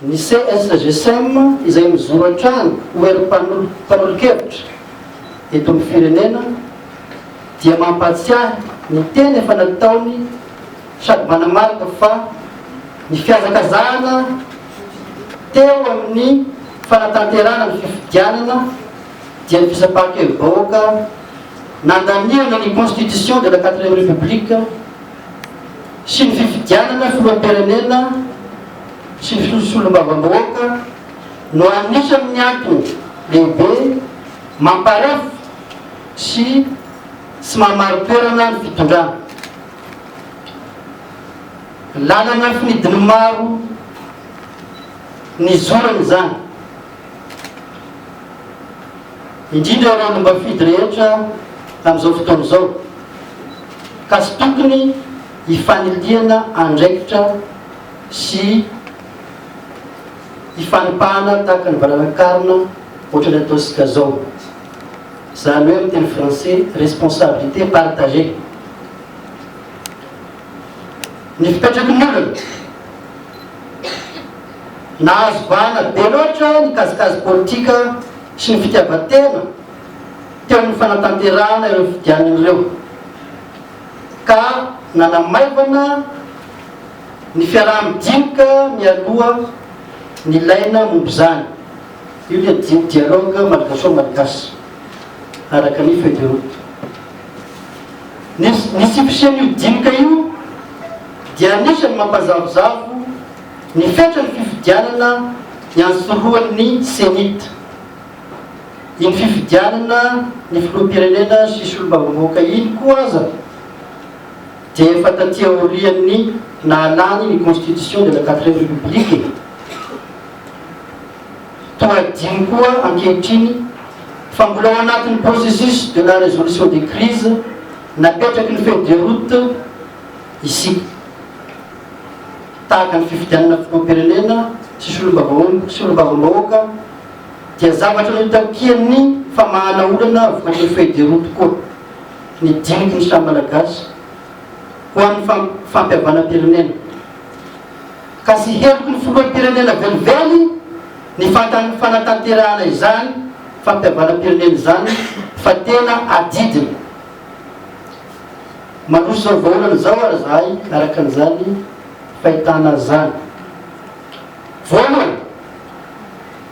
Ny CSGCM izay mijoro hatrany ho herim-panolo mpanolo-kevitra eto amin'ny firenena dia mampahatsiahy ny teny efa nataony sady manamarika fa ny fihazakazahana teo amin'ny fanatanterahana ny fifidianana dia ny fisapaham-kevi-bahoaka nandaniana ny Constitution de la Quatrième République sy ny fifidianana filoham-pirenena sy ny fisolombavambahoaka no anisan' ny antony lehibe mamparefo sy tsy mahamarin-toerana ny fitondrana. Lalana finidiny maro nizorana izany, indrindra ireo lombafidy rehetra amin' izao fotoana izao. ka tsy tokony hifanilihana andraikitra sy hifanipahana tahaka ny valanakarona ohatran'ny ataontsika izao, izany hoe amin'ny teny frantsay responsabilité partagée. Ny fipetraky ny olona, nahazo vahana be loatra ny kajikajy politika sy ny fitiavan-tena, teo amin'ny fanatanterahana ireo fidianana ireo ka nanamaivana ny fiaraha-midinika mialoha ny laina momba izany. Io ilay di- dialogue malgaso-malgache araka ny feuille de route. Ny ny tsy fisian'io dinika io dia anisan'ny mampazavozavo ny fetran'ny fifidianana iantsorohan'ny CENI-T. iny fifidianana ny filoham-pirenena sy solombavambahoaka iny koa aza dia efa taty aorian'ny nahalany ny constitution de la quatrième république e! toa adino koa ankehitriny fa mbola ao anatin'ny processus de la résolution des crises napetraky ny feuille de route isika tahaka ny fifidianana filoham-pirenena sy solombavambahoaka dia zavatra notakian'ny famahana olana vokatr'ireo feuille de route koa ny diniky ny samy Malagasy ho an'ny fampihavanam-pirenena ka sy heloky ny filoham-pirenena velively ny fanatanterahana izany fampihavanam-pirenena izany fa tena adidiny. Mandroso izao vahaolana izao ary izahay araka an'izany fahitana izany. Voalohany,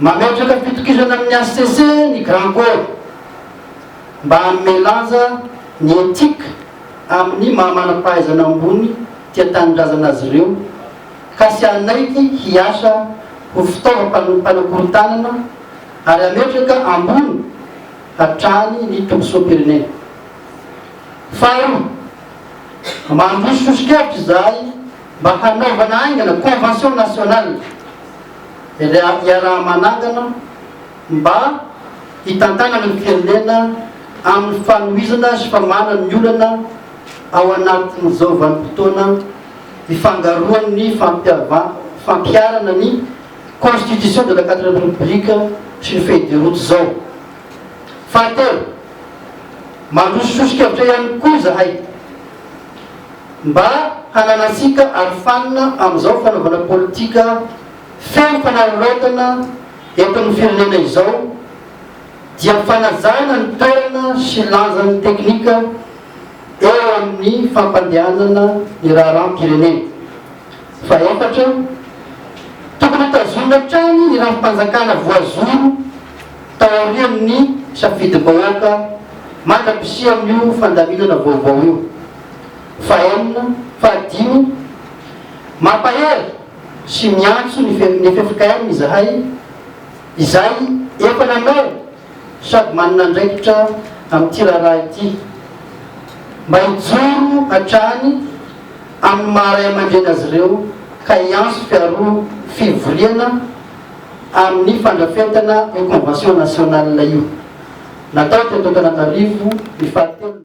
mametraka fitokisana amin'ny hcc ny Grand Corps mba hanome lanja ny éthique amin'ny maha manam-pahaizana ambony tia tanindrazana azy ireo ka sy hanaiky hiasa ho fitaovam-panakorontanana ary hametraka ambony hatrany ny tombosoam-pirenena. Faharoa, mandroso soso-kevitra izahay, mba hanaovana haingana convention nationale iaraha-manangana mba hitantanana ny firenena amin'ny fanohizana sy famanana ny olana ao anatin'izao vanim-potoana ifangaroan'ny fampiharana ny constitution de la quatrième république sy ny feuille de route izao. Fahatelo, mandrosososokevitra ihany koa izahay. mba hananantsika arofanina amin'izao fanaovana politika feno fanararaotana eto amin'ny firenena izao dia fanajana ny toerana sy lanjan'ny teknika eo amin'ny fampandehanana ny raharaham-pirenena. Fahefatra, tokony hotazonina hatrany ny rafi-panjakana voazoro taorian'ny safidim-bahoaka mandra-pisian'io fandaminana vaovao io. fahenina, fahadimy, Mampahery sy miantso ny ffkm izahay izay efa nanao sady manana andraikitra amin'ity raharaha ity mba hijoro hatrany amin'ny maha ray aman-dreny azy ireo ka hiantso fiaro fivoriana amin'ny fandrafetana io convention nationale io natao teto Antananarivo ny fahatelo